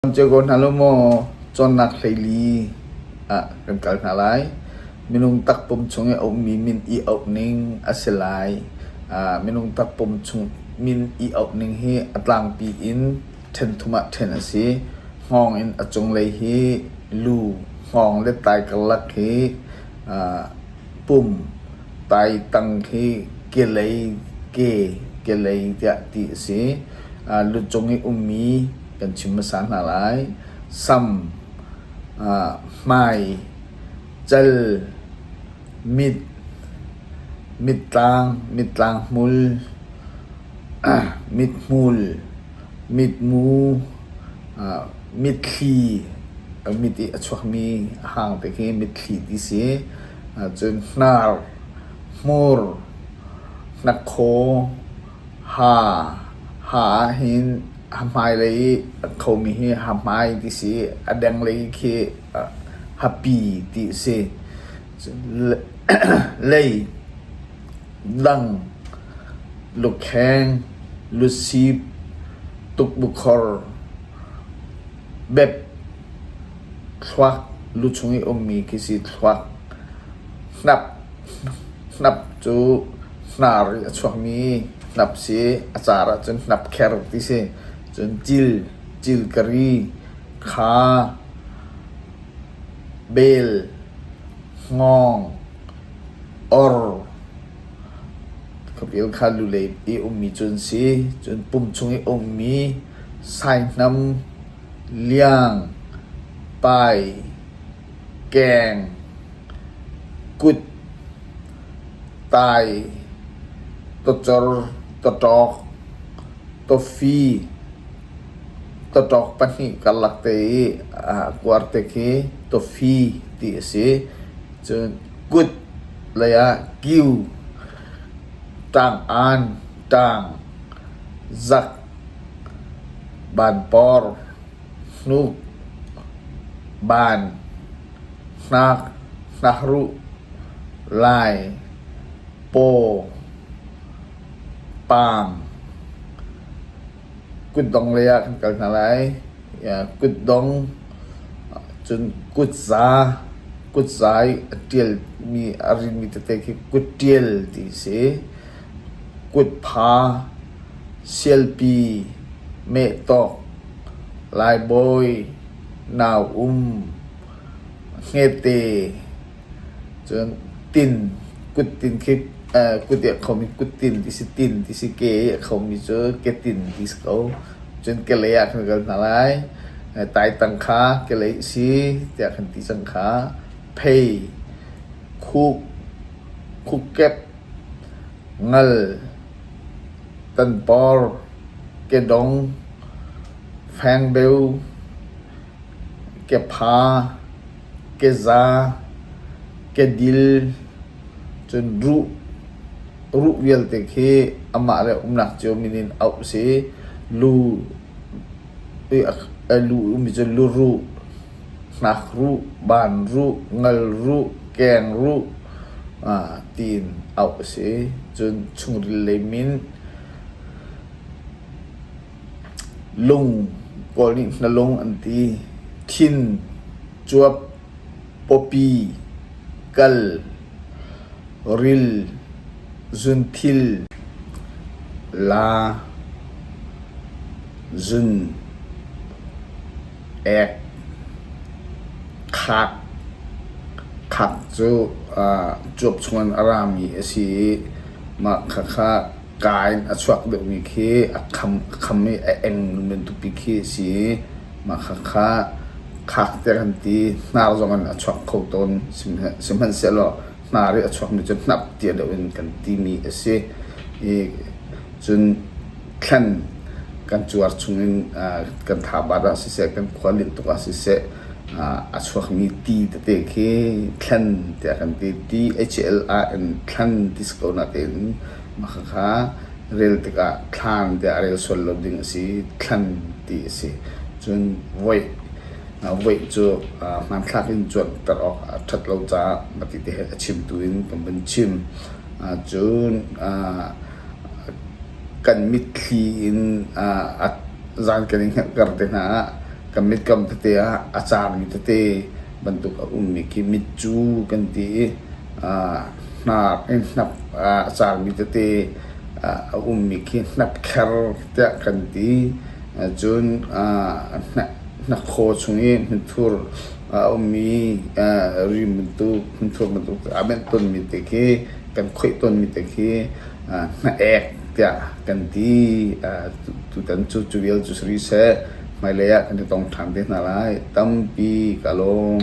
Kan cio ko hna law maw cawnnak hleili ah kan kal hna lai. Minung takpum chung i a ummi min i auh ning a si lai. Ah minung takpum chung min i auh ning hi a tlangpi in ṭhen thum ah ṭhen a si. Hngawng in a cunglei hi lu, hngawng le tai karlak hi ah pum, taitang khi kelei, ke, kelei tiah ti a si. Ah lucung i ummi kan chim hmasa hna lai. Sam, uh, hmai, cal, mit, mittlang, mittlang hmul, uh, mithmul, mitmu, uh, mitthli, uh, mit i a chuakmi hang te khi mitthli ti si. Uh, cun hnar, hmur, hnakhaw, Ha ha ahhin a hmailei i a khomi hi hahmai ti si i a denglei khi hapi ti a si. Lei, dang, lukheng, lusip, tukbukhor, bep, thluak, lucung i ummi khi si thluak. Hnap, hnap cu Hnar i a chuakmi hnap si i a car ahcun hnapkher ti si. Cun cil, cilkari, kha, bel, hngawng, or khuapil kha lulei i ummi cu an si. Cun pum chung i a ummi saihnam, liang, pai, keng, kut. Tai, tawcor, tawṭawk, tawfi, tawṭawk pahnih karlak te i a kuar te khi tawfi ti a si. Cun kut lei ah kiu, ṭang-aan, ṭang, zak, banpawr, hnuk, ban. Hnak, hnakruh, lai, paw, paang, kutdong lei ah kan kal hna lai. Kutdong, cun kutza, kutza i a ṭialmi, a rinmi tete khi kutṭial ti a si. Kutpha, sialpi, mehtawk, laibawi. nau um ngete cun tin kuttin khi aa kut i a khom i kuttin ti si tin ti si ke i a khomi cu ketin ti si ko. Cun kelei ah khan kal hna lai. Taitang kha kelei si tiah kan ti cang kha. Phei, khuk, khukek, ngal, tanpawr, kedong, Fengbeu, kepha, keza, kedil cun ruh, ruh vialte khi amah le umnak cio min in auh a si. Lu i lu ummi cu luruh, ngakruh, banruh, ngalruh, kengruh tiin auh a si. Cun chungril lei min. Lung pawl nih hnalung an ti, thin, cuap, pawpi, kal, ril, zunthil, la, zun, ek, khak. Khak cu cuap chungin a rami a si i mah khakha. Ka in a chuak deuhmi khi a kham i a eng ngun bantukmi khi a si i mah khakha khak tiah kan ti. Hnar zong in a chuak kho tawn. Sihmanhsehlaw hnar i a chuakmi cu hnap tia deuh in kan timi a si. Cun thlen kan cuar chung in kan thabar ah siseh, kan khua leh tuk ah siseh a chuakmi ti tete khi thlen tiah kan ti. T-H-E-L-A in thlen ti si ko natein Mahkhakha rel tikah thlang tiah a rel sual lo ding a si. Thlan ti a si. Cun voih, voih cu hmanthlak in cuanter awk a ṭhat lo caah mah ti ti he a chimtu in kan vun chim. Cun kan mitthli in zan kan i hngerhter te hna ah kan mit kam tete ah a caarmi tete bantuk a ummi khi mit cu kan ti i aa hnar i hnap aa cangmi tete a ummi khi hnapkher tiah kan ti. Cun aa hnakhaw chung i hnutthur a ummi rim bantuk hnutthur bantuk aa benh tonmi te khi kan khoih tonmi te khi hnah ek tiah kan ti. Uh, tutan cu cu vial cu si rih seh, hmailei ah kan i tong ṭhan te hna lai. Tampi ka lawm.